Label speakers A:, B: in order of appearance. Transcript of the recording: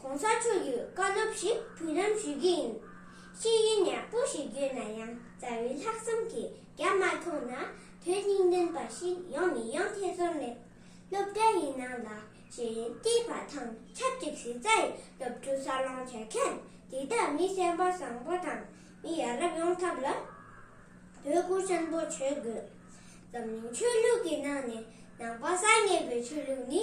A: གོང་ས་མཆོག་གིས་བཀའ་སློབ་ཞིག་དུས་ནམ་ཞུས་ཀྱི་ཡིན། ཤེས་ཡོན་ཡག་པོ་ཞིག་བརྒྱུད་ན་ཡང་རྩ་བའི་ལྷག་བསམ་གྱི་རྒྱ་མ་མཐོང་ན་དོན་སྙིང་ལྡན་པ་ཞིག་ཡོང་མི་ཡོང་ཐེ་ཚོམ་མེད། སློབ་གྲྭ་ཡི་ནང་ལ་ཤེས་ཡོན་བསྟི་བ་དང་ཆབས་ཅིག་གཞི་རྩ་ཡི་སློབ་ཕྲུག་གསར་སློང་བྱེད་མཁན་འདི་དག་མི་སེམས་པ་བཟང་པོ་དང་མི་ཡ་རབས་ཡོང་ཐབས་ལ་དོ་ཁུར་ཆེན་པོ་བྱེད་དགོས། འཛམ་གླིང་ཆོས་ལུགས་ཀྱི་ནང་ནས་ནང་པ་གསར་ངེས་པའི་ཆོས་ལུགས་ནི